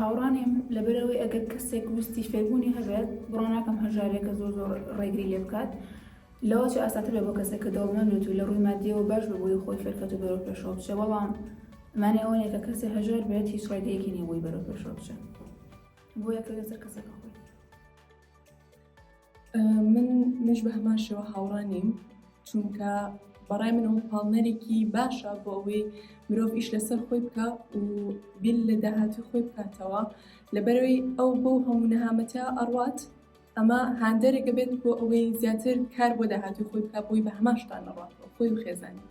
هاوڕا نیم لەبەرەوەی ئەگەر کەسێک ویستی فێربوونی هەبێت بڕۆناکەم هەژارێکە زۆر زۆر ڕێگری لێ بکات لەوە چ ئاساتر بە بۆ کەسێک کە دەوڵمەندێت و لە ڕووی مادیەوە باش بە بۆی خۆی فێرکەت و بەرەو پێشەوە بچێ بەڵام مانێ ئەوەیە کە کەسێ هەژار بێت هیچ ڕێگەیەکی نیە بۆی بەرەو پێشەوە بچێت بۆیە کە لەسەر کەسەکە خۆی من مش بە هەمان شێوە هاوڕا نیم چونکە بەڕای من ئەو پاڵنەرێکی باشە بۆ ئەوەی مرۆڤ ئیش لەسەر خۆی بکە و بیل لە داهاتی خۆی بکاتەوە لەبەرەوەی ئەو بۆ هەموو نەهامەتە ئەڕات ئەمە هاندەرێکە بێت بۆ ئەوەی زیاتر کار بۆ داهاتی خۆی بکە بۆی بە هەماشتان نەڕاتەوە خۆی و خێزانانی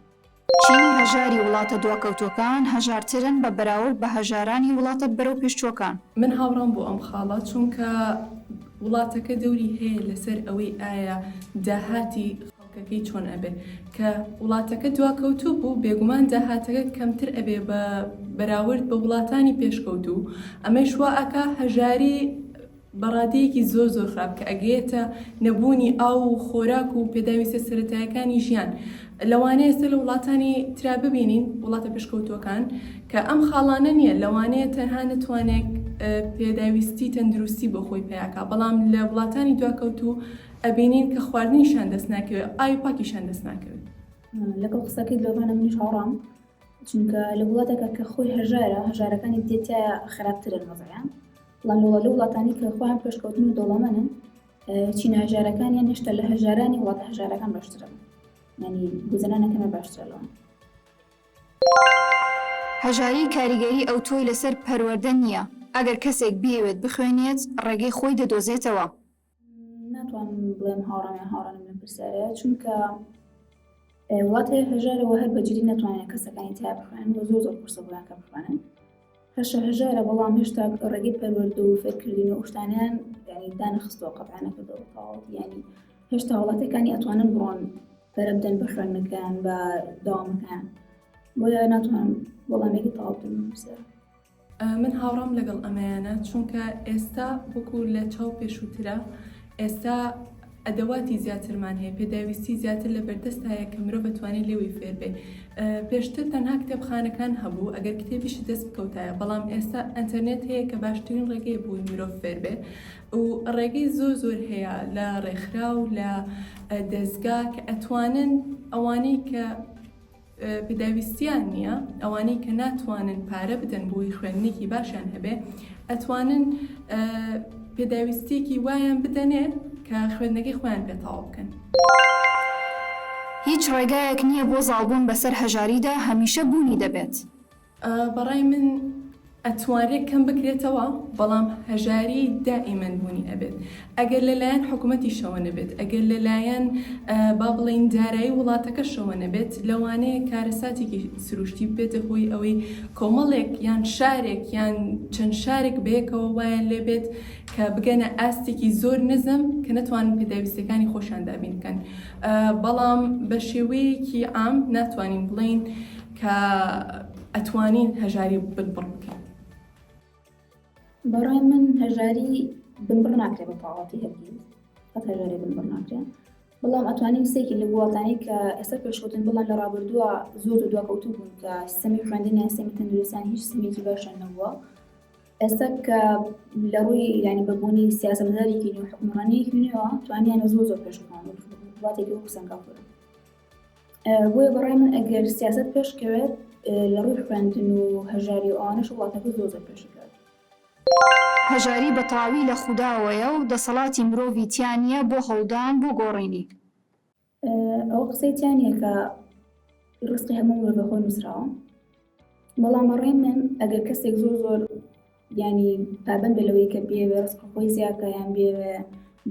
چین و هەژاری وڵاتە دواکەوتووەکان هەژارترن بە بەراورد بە هەژارانی وڵاتە بەرەوپێشچووەکان. من هاوڕام بۆ ئەم خاڵە چونکە وڵاتەکە دەوری هەیە لەسەر ئەوەی ئایا داهاتی خەڵکەکەی چۆن ئەبێ کە وڵاتەکە دواکەوتوو بوو بێگومان داهاتەکە کەمتر ئەبێ بە بەراورد بە وڵاتانی پێشکەوتوو ئەمەیش وا ئەکا هەژاری بەڕادەیەکی زۆر زۆر خراپ کە ئەگەیەتە نەبوونی ئاو و خۆراک و پێداویستە سەرەتایەکانی ژیان لەوانەیە ئێستا لە وڵاتانی ترا ببینین وڵاتە پێشکەوتووەکان کە ئەم خاڵانە نییە لەوانەیە تەنها نەتوانێت پێداویستی تەندروستی بۆ خۆی پیاکە بەڵام لە وڵاتانی دواکەوتوو ئەبینین کە خواردنیشان دەست ناکەوێت ئای پاکیشان دەست ناکەوێت لەگەڵ قسەکەی لۆڤانە منیش هاوڕام چونکە لە وڵاتەکە کە خۆی هەژارە هەژارەکانی دێتە خراپترە مەزەیان بەڵام وەڵا لەو وڵاتانەی کە خۆیان پێشکەوتن و دەوڵەمەنن چینە هەژارەکانیان هێشتا لە هەژارانی وڵاتە هەژارەکان باشترن ینی گوزەرانەکەمە باشترە لەوان هەژاری کاریگەری ئەوتۆی لەسەر پەروەردە نییە ئەگەر کەسێک بیەوێت بخوێنێت ڕێگەی خۆی دەدۆزێتەوە ناتوانم بڵێم هاوڕام یان هاوڕا نیم لەم پرسیارەیە چونکە وڵات هەیە هەژارەوە هەر بەجددی ناتوانێت کەسەکانی تیا بخوێن بۆ زۆر زۆر قورسە بۆیان کە بخوێنن هەشە هەژارە بەڵام هێشتا ڕێگەی پەروەرد و فێرکردن و شتانیان یعنی دانەخستەوە قەتانەکردەوە تەواوەت ینی هێشتا وڵاتەکانی ئەتوانن بڕۆن پەرە بدەن بە خوێندنەکەیان بە داوامەکەیان بۆیە ناتوانم وەڵامێکی تەواو بدەم بسیار من هاوڕام لەگەڵ ئەمەیانە چونکە ئێستا وەکو لە چاو پێشووترە ئێستا ئەدەواتی زیاترمان هەیە پێداویستی زیاتر لە بەردەست هەیە کە مرۆ بەتوانێت لێوی فێربێ پێشتر تەنها کتێبخانەکان هەبوو ئەگەر کتێبیشی دەست بکەوتایە بەڵام ئێستا ئەتەرنێت هەیە کە باشترین ڕێگەی بووی مرۆڤ فێربێ و ڕێگەی زۆر زۆر هەیە لە ڕێکخرا و لە دەستگا کە ئەتوانن ئەوانەی کە پێداویستیان نییە ئەوانەی کە ناتوانن پارە بدەن بۆی خوێندنێکی باشیان هەبێ ئەتوانن پێداویستێکی وایان بدەنێ کە خوێندنەکەی خۆیان پێ تەواو بکەن. هیچ ڕێگایەک نییە بۆ زاڵبوون بەسەر هەژاریدا هەمیشە بوونی دەبێت. بەڕای من ئەتوانرێت کەم بکرێتەوە بەڵام هەژاری دائیمەن بوونی ئەبێت ئەگەر لەلایەن حکوومەتیشەوە نەبێت ئەگەر لەلایەن با بڵین دارایی وڵاتەکەشەوە نەبێت لەوانەیە کارەساتێکی سروشتی بێتە هۆی ئەوەی کۆمەڵێک یان شارێک یان چەند شارێک بەیەکەوە وایان لێبێت کە بگەنە ئاستێکی زۆر نزم کە نەتوان پێداویستەکانی خۆشان دابین بکەن بەڵام بە شێوەیەکی ئام ناتوانین بڵین کە ئەتوانین هەژاری بنبڕ بکەین؟ بەڕای من هەژاری بنبڕ ناکرێت بە تەواوەتی هەرگیز قەت هەژاری بنبڕ ناکرێت بەڵام ئەتوانین سێکی لە وڵاتانی کە ئێستا پێشکەوتن بڵێن لە ڕابردووە زۆر و دواکەوتو بوون کە سیستەمی خوێندنیان سیستەمی تەندروستیان هیچ سیستمێکی باشیان نەبووە ئێستا کە لە ڕووی ینی بەبوونی سیاسەتدارێکی نوێ حکومڕانیەکی نوێەوە توانیان زۆر زۆر پێشکەوتن وڵاتێکی وەکو سەنگاپۆر بۆیە بەڕای من ئەگەر سیاست پێشکەوێت لە ڕووی خوێندن و هەژاری و ئەوانش وڵاتەکە زۆر زۆر پێشکەوێت. هەژاری بە تەواوی لە خوداوەیە و دەسەڵاتی مرۆڤی تیا نییە بۆ هەوڵدان بۆ گۆڕینی. ئەوە قسەی تیا نییە کە ڕزقی هەموو مرۆڤ بە خۆی نووسراوە، بەڵام بەڕای من ئەگەر کەسێک زۆر زۆر یانی پابەندە لەوەی کە بێوێ ڕسقە خۆی زیاکە یان بێوێ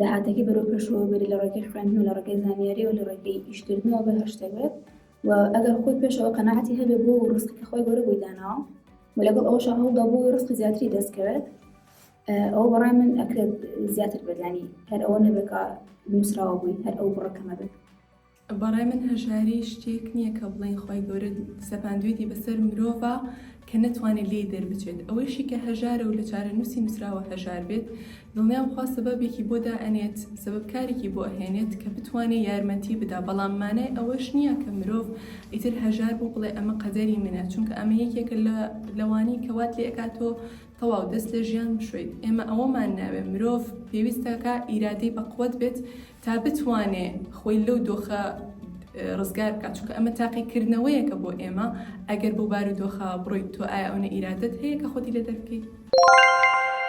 داهاتەکەی بەرەو پێشەوە بێت لە ڕێگەی خوێندن و لە ڕێگەی زانیاری و لە ڕێگەی ئیشکردنەوە بە هەر شتێک بێت و ئەگەر خۆی پێشەوە قەنەعەتی هەبێ بۆ ڕسقەکە خۆی گەورە بۆی داناوە و لەگەڵ ئەوشە هەوڵدا بۆ ڕسقی زیاتری دەستکەوێت ئەو بەڕای من ئەکرێت زیاتر بەدانی هەر ئەوە نەبێکە نووسراوە بووی هەر ئەو بڕەکەمە بێت بەڕای من هەژاری شتێک نیە کە بڵێین خوای گەورە سەپاندوێتی بەسەر مرۆڤا کە نەتوانێت لێی دەربچێت ئەوەیشی کە هەژارە و لە چارەنووسی نووسراوە هەژار بێت دڵنیام خوا سەبەبێکی بۆ دائەنێت سەبەب کارێکی بۆ ئەهێنێت کە بتوانێ یارمەتی بدا بەڵام مانای ئەوەش نیە کە مرۆڤ ئیتر هەژار بوو بڵێ ئەمە قەدەری منە چونکە ئەمە یەکێکە لە لەوانەی کە وات لێ ئەکات تۆ تەواو دەست لە ژیان بشۆیت ئێمە ئەوەمان ناوێ مرۆڤ پێویستەکە ئیرادەی بەقوەت بێت تا بتوانێ خۆی لەو دۆخە ڕزگار بکات چونکە ئەمە تاقیکردنەوەیەکە بۆ ئێمە ئەگەر بۆ بار و دۆخە بڕۆیت تۆ ئایا ئەونە ئیرادەت هەیە کە خۆتی لێ دەربکەیت.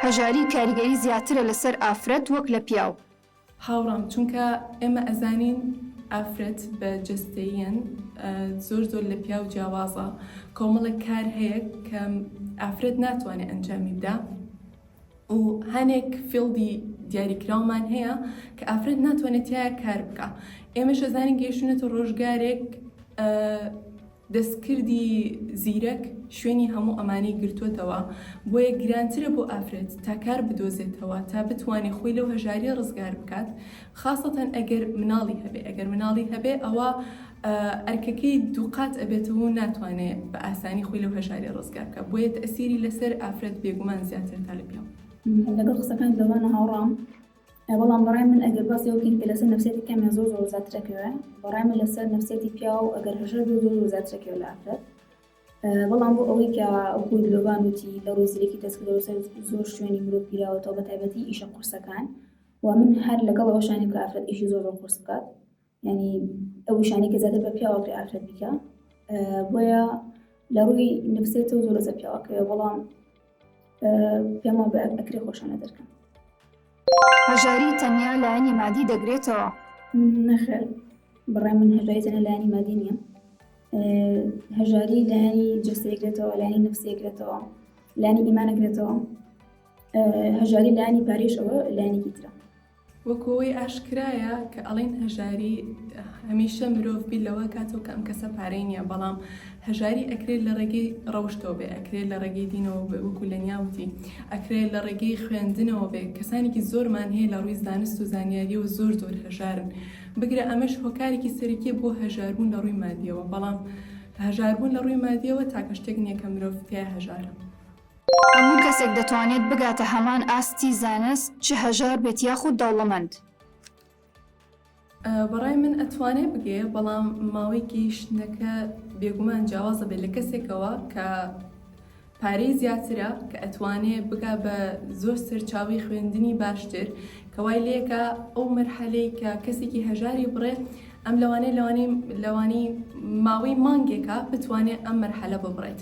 هەژاری کاریگەری زیاترە لەسەر ئافرەت وەک لە پیاو. هاوڕام چونکە ئێمە ئەزانین ئافرەت بە جەستەییەن زۆر زۆر لە پیاو جیاوازە کۆمەڵێک کار هەیە کە ئافرەت ناتوانێ ئەنجامی بدا. و هەنێک فیڵدی دیاریکراومان هەیە کە ئافرەت ناتوانێت تیا کار بکە ئێمە شەزانین گەیشتونەتە ڕۆژگارێک دەستکردی زیرەک شوێنی هەموو ئەمانەی گرتوتەوە بۆیە گرانترە بۆ ئافرەت تا کار بدۆزێتەوە تا بتوانێت خۆی لەو هەژاری ڕزگار بکات خاستەن ئەگەر مناڵی هەبێ ئەگەر مناڵی هەبێ ئەوە ئەرکەکەی دووقات ئەبێتەوە و ناتوانێ بە ئاسانی خۆی لەو هەژاریە ڕزگار بکا، بۆیە تەئسیری لەسەر ئافرەت بێگومان زیاترە تا لە پیاو. لەگەڵ قسەکانت لەوانە هاوڕام بەڵام بەڕای من ئەگەر باسی ئەوە بکەین کە لەسەر نەفسیەتی پیاو یان زۆر زۆر زیاترە کوێ بەڕای من لەسەر نەفسیەتی پیاو ئەگەر هەژار بێ زۆر زۆر زیاترە کوێ لە ئافرەت بەڵام بۆ ئەوەی کە ئەوکو درۆبان وتی لە ڕووی زیرەکی دەستکردەوە سەر زۆر شوێنی مرۆڤ گیراوەتەوە بە تایبەتی ئیشە قورسەکان و من هەر لەگەڵ ئەوەشانی کە ئافرەت ئیشی زۆر زۆر قورس بکات یعنی ئەو شانی کە زیاتر بە پیاوە پێ ئافرەت بکە بۆیە لە ڕووی نفسێت و زۆر زە پیاوەکە بەڵام پێما بە ئەکرێ خۆشانە دەرکەن هەژاری تەنیا لایەنی مادی دەگرێتەوە نەخێر بڕای من هەژاری تەنە لایەنی مادی نییە هەژاری لایەنی جستێکرێتەوە لایانی نفسێکرێتەوە لانی ئیمانەکرێتەوە هەژاری لایانی پارێش ئەوە لایەنێکی ترە وەکو ئەوەی ئاشکرایە کە ئەڵێن هەژاری هەمیشە مرۆڤ بیر لەوە کاتەوە کە ئەم کەسە پارەی نییە بەڵام هەژاری ئەکرێت لە ڕێگەی ڕەوشتەوە بێ ئەکرێت لە ڕێگەی دینەوە بێ وەکو لە نیاوتی ئەکرێت لە ڕێگەی خوێندنەوە بێ کەسانێکی زۆرمان هەیە لە ڕووی زانست و زانیاری و زۆر زۆر هەژارن بگرە ئەمەش هۆکارێکی سەرەکیە بۆ هەژاربوون لە ڕووی مادیەوە بەڵام هەژاربوون لە ڕووی مادیەوە تاکە شتێک نییە کە مرۆڤ تیا هەژارە هەموو کەسێک دەتوانێت بگاتە هەمان ئاستی زانست چ هەژار بێت یاخود دەوڵەمەند. بەڕای من ئەتوانێ بگەیە بەڵام ماوەی گەیشتنەکە بێگومان جیاواز دەبێت لە کەسێکەوە کە پارەی زیاترە کە ئەتوانێ بگا بە زۆر سەرچاوی خوێندنی باشتر کەوای لەکە ئەو مەرحەلەی کە کەسێکی هەژاری بڕێ ئەم لەوانەیە لەوانەی لەوانی ماوەی مانگێکە بتوانێت ئەم مەرحەلە ببڕێت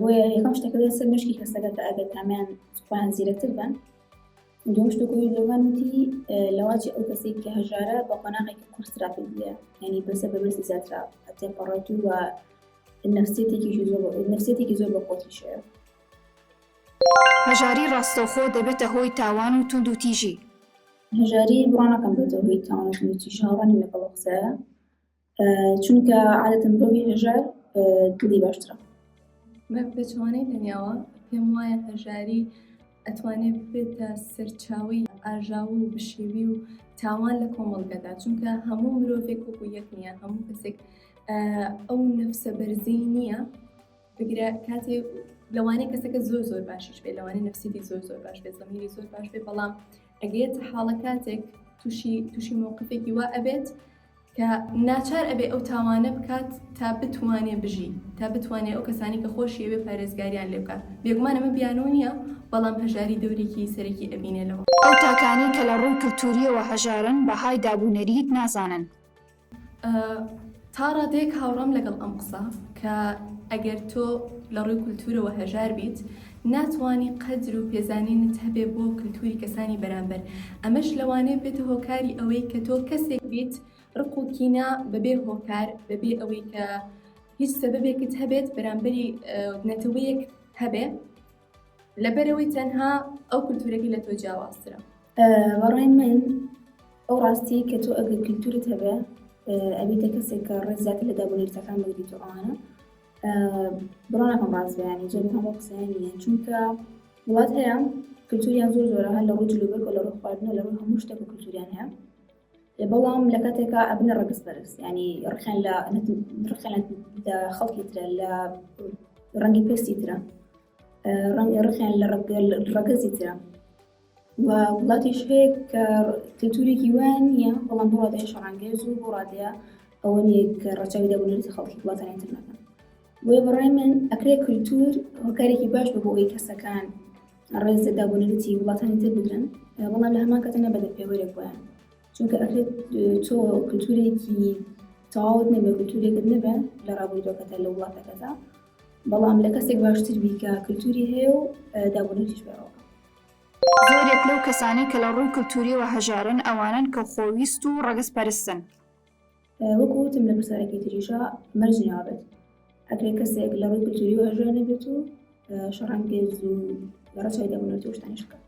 بۆیە یەکەم شتەکەێت سەر مشکی کەسەکە کە ئەگەر تامیان خۆیان زیرەتر بن دوم شتەکەی لەوان وتی لەواجی ئەو کەسێک کە هەژارە بە قۆناغێکی قورسرا پێبیە ینی بەسە بەبرسی زیاترا هەتێ پەڕەت و وە نفسێتێکی زۆر نفسێتێکی زۆر بە خۆتی شێ هەژاری ڕاستەوخۆ دەبێتە هۆی تاوان و توند و تیژی هەژاری بڕانەکەم بێتەوە هۆی تاوان و توند و تیژ هاوڕانی لەگەڵ قسەیە چونکە عادەتەن مرۆڤی هەژار دڵی باشترە من بەچوانەی دنیاوە پێم وایە هەژاری ئەتوانێت بێتە سەرچاوی ئاژاو و بشێوی و تاوان لە کۆمەڵگەدا چونکە هەموو مرۆڤێک و یەک نییە هەموو کەسێک ئەو نفسە بەرزەی نییە بگرە کاتێ لەوانەیە کەسەکە زۆر زۆر باشیش بێ لەوانەیە نفسیدی زۆر زۆر باش بێ زەمیری زۆر باش بێ بەڵام ئەگەیت حاڵە کاتێک تووشی تووشی مووقفێکی وا ئەبێت کە ناچار ئەبێ ئەو تاوانە بکات تا بتوانێ بژی، تا بتوانێ ئەو کەسانەی کە خۆشیەوێ پارێزگاریان لێ بکات. بێگومان ئەمە بیانوو نییە، بەڵام هەژاری دەورێکی سەرەکی ئەبینێ لەوە. ئەو تاکانەی کە لە ڕووی کلتوورییەوە هەژارن، بەهای داب و نەریت نازانن. تا ڕادەیەک هاوڕام لەگەڵ ئەم قسە، کە ئەگەر تۆ لە ڕووی کولتوورەوە هەژار بیت، ناتوانی قەدر و پێزانینت هەبێ بۆ کلتوری کەسانی بەرامبەر، ئەمەش لەوانەیە بێتە هۆکاری ئەوەی کە تۆ کەسێک بیت رق و کینە بەبێ هۆکار بەبێ ئەوەی کە هیچ سەبەبێکت هەبێت بەرامبەری نەتەوەیەک هەبێ لەبەرئەوەی تەنها ئەو کلتورەکەی لە تۆ جیاوازترە. بەڕای من ئەو راستیەی کە تۆ ئەگەر کلتورت هەبێ ئەبیتە کەسێک کە رێز زیاتر لە دابونەریتەکان بگریت و ئەوانە بڕۆنەکەم ڕاست بەیانی زۆر هەموو قسەیانە چونکە وڵات هەیە کلتوریان زۆر زۆرە هەر لە ڕوو جلوبەر و لە ڕوو خواردنەوە لە ڕوو هەموو شتێک و کلتوریان هەیە بەڵام لە کاتێکا ئەبنە ڕگز بەرز ینی ڕخیان لە ڕخیان لە خەڵکی ترە لە ڕەنگی پێستی ترە ڕەنگی ڕخیان لە ڕگەل ڕگەزی ترە و وڵاتیش هەیە کە کلتورێکی وایان نییە بەڵام بۆ ڕادەیە شەڕانگێز و بۆ ڕادەیە ئەوە نیە کە ڕەچاوی دەبنێتە خەڵکی وڵاتانی تر نەکەن بۆیە بەڕای من ئەکرێ کللتور هۆکارێکی باش بە بۆ ئەوی کەسەکان ڕێزە دابنێتی وڵاتانی تر بگرن بەڵام لە هەمان کەتە نەبەدە پێوەرێک بۆیان چونکە ئەکرێت تۆ کللتورێکی تەواوت نەبێ کللتورێکت نەبێ لە ڕابوردۆکەتە لە وڵاتەکەدا بەڵام لە کەسێک باشتر بیکە کللتوری هەیە و دابنێتیش بەەوە زۆرێک لەو کەسانەی کە لە ڕووی کلتوورییەوە هەژارن، ئەوانەن کە خۆویست و ڕەگەزپەرستن. وەکو وتم لە پرسارێکی تریشا مەرج نابێت ئەگەر کەسێک لە ڕووی کلتوورییەوە هەژار نەبێت و شەڕانگێز و لە ڕەچاوی دابنەوەی تۆشتانیش بکات.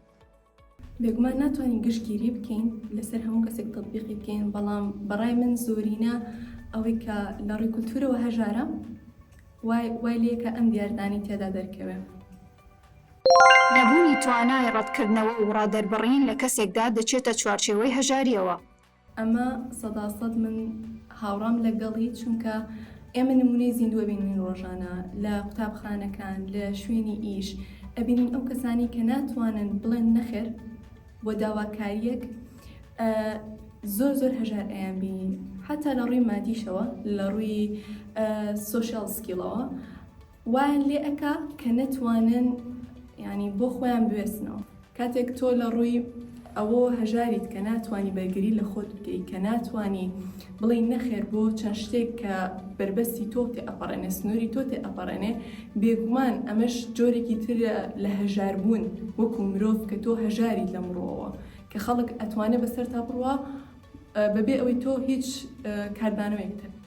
بێگومان ناتوانین گشتگیری بکەین لەسەر هەموو کەسێک تەتبیقی بکەین، بەڵام بە ڕای من زۆرینە ئەوەی کە لە ڕووی کلتوورەوە هەژارە وای لێکە ئەم دیاردانەی تێدا دەرکەوێ. نەبوونی توانای ڕەتکردنەوە و ڕادەربڕین لە کەسێکدا دەچێتە چوارچێوەی هەژارییەوە. ئەمە سەدا سەد من هاوڕام لەگەڵی، چونکە ئێمە نموونەی زیندوو ئەبینین ڕۆژانە لە قوتابخانەکان، لە شوێنی ئیش ئەبینین ئەو کەسانەی کە ناتوانن بڵێن نەخێر بۆ داواکارییەک زۆر زۆر هەژار ئەیانبینین حەتا لە ڕووی مادیشەوە لە ڕووی سۆشیاڵ سکیڵەوە. وایان لێ ئەکا کە نەتوانن یانی بۆ خۆیان بوێستنەوە کاتێک تۆ لە ڕووی ئەوە هەژاریت کە ناتوانانی بەرگری لە خۆت بکەیت کە ناتانی بڵێ نەخێر بۆ چەند شتێک کە بربەستی تۆ تێ ئەپەڕێنێ سنووری تۆ تێ ئەپەڕێنێ بێگومان ئەمەش جۆرێکی تر لە هەژاربوون وەکو مرۆڤ کە تۆ هەژاریت لە مڕۆەوە کە خەڵک ئەتوانێت بەسەر تا بڕوە بەبێ ئەوەی تۆ هیچ کاردانەوەیەک تەبێت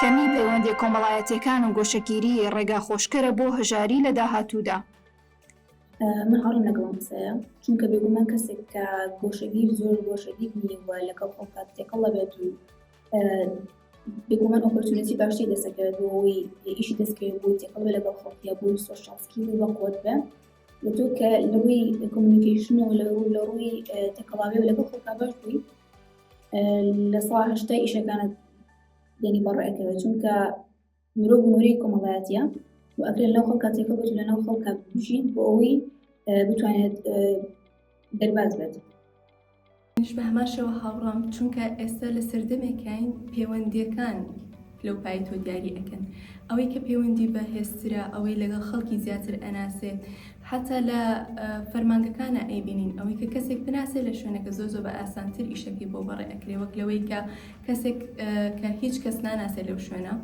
کەمیی پەیوەندییە کۆمەڵایەتییەکان و گۆشەگیری ڕێگا خۆشکەرە بۆ هەژاری لە داهاتوودا. من هاوڕام لەگەڵ ئەم قسەیە، چونکە بێگومان کەسێک کە گۆشەگیر زۆر گۆشەگیر نییە و لەگەڵ خۆ کات تێکەڵ ئەبێت و بێگومان ئۆپۆرتونیتی باشتری دەست ئەکەوێت بۆ ئەوەی ئیشی دەست بکەوێت بۆی تێکەڵ بێت لەگەڵ خەڵکی یا بۆی سۆشیال سکیڵی بەقوەت بێت وتو کە لەڕووی کۆمونیکەیشن و لەڕووی تەکەڵاوی و لەگەڵ خەڵکا باش بووی لە سا هەشتا ئیشەکانت دێنی بەڕێکەوە چونکە مرۆڤ نوری کۆمەڵایەتە و ئەکرێت لەو خەڵکە تێکە بێت لەناو خەڵکە بژین بۆ ئەوەی بتوانێت دەرباز بێت منیش بە هەمان شێوە هاوڕام چونکە ئێستا لە سەردەمێکاین پەیوەندیەکان لەو پای تۆ دیاری ئەکەن ئەوەی کە پەیوەندی بە هێسترا ئەوەی لەگەڵ خەڵکی زیاتر ئەناسێت حتا لە فەرمانگەکانە ئەیبینین ئەوەی کە کەسێک بناسێت لە شوێنەکە زۆ زۆ بە ئاسانتر ئیشەکەی بۆ بەڕێ ئەکرێ وەک لەوەی کە کەسێک کە هیچ کەس ناناسێت لەو شوێنە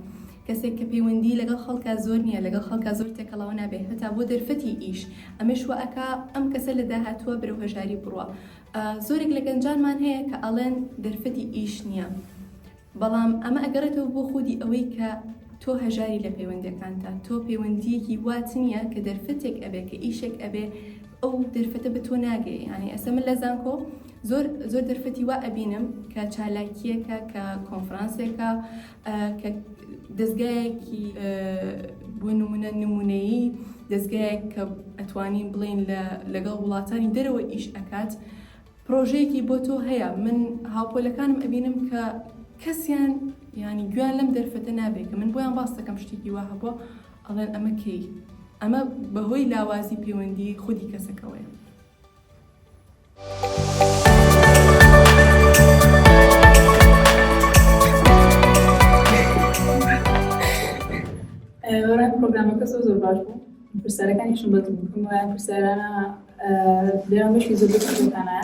کەسێک کە پەیوەندی لەگەڵ خەڵکە زۆر نییە لەگەڵ خەڵکە زۆر تێکەڵەوە نابێت هەتا بۆ دەرفەتی ئیش ئەمەش وەکە ئەم کەسە لە داهاتووە برەو هەژاری بڕە زۆرێک لە گەنجانمان هەیە کە ئەڵێن دەرفەتی ئیش نییە، بەڵام ئەمە ئەگەڕێتەوە بۆ خودی ئەوەی کە تۆ هەژاری لە پەیوەندیەکانتا، تۆ پەیوەندیەکی وات نییە کە دەرفەتێک ئەبێ کە ئیشێک ئەبێ ئەو دەرفەتە بە تۆ ناگەی یانی ئەسە من لە زانکۆ زۆر زۆر دەرفەتی وا ئەبینم کە چالاکیەکە کە کۆنفرانسێکە کە دەزگایەکی بۆ نمونە نمونەیی دەزگایەک کە ئەتوانین بڵین لە لەگەڵ وڵاتانی دەرەوە ئیش ئەکات پرۆژەیەکی بۆ تۆ هەیە من هاوپۆلەکانم ئەبینم کە کەسیان ینی گویان لەم دەرفەتە نابێت کە من بۆیان باس دەکەم شتێکی وا هەبووە ئەڵێن ئەمە کەی ئەمە بەهۆی لاوازی پەیوەندی خودی کەسەکەوەیە پرۆگرامەکە زۆر زۆر باش بوو پرسیارەکانیشم بەدڵ بوو پرسیارانە دەیان بەشی زۆر بەکانە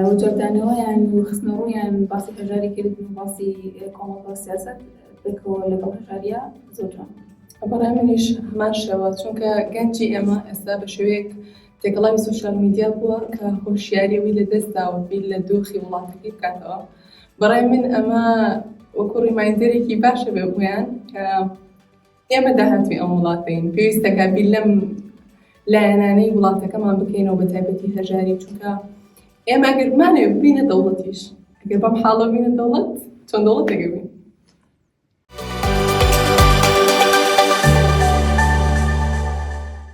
وجدانەوەیان و خستنەڕوویان باسی هەژاری کرد و باسی کۆمەڵ و سیاست بکەوە لە بە هەژاریە زۆر جوان بەڕای منیش هەمان شێوە چونکە گەنجی ئێمە ئێستا بە شوەیەک تێکەڵاوی سۆشیال میدیا بووە کە هۆشیاری ئەوی لەدەست داوە و بیر لە دۆخی وڵاتەکەی بکاتەوە بەڕای من ئەمە وەکو ڕیمایندەرێکی باشە بێ بوویان کە ئێمە داهاتوی ئەم وڵاتین پێویستەکە بیر لەم لایەنانەی وڵاتەکەمان بکەینەوە بە تایبەتی هەژاری چونکە ئێمە گەرمانێ بینە دەوڵەتیش ئەگەر بەم حاڵە بینە دەوڵەت چۆن دەوڵەت دەگەبین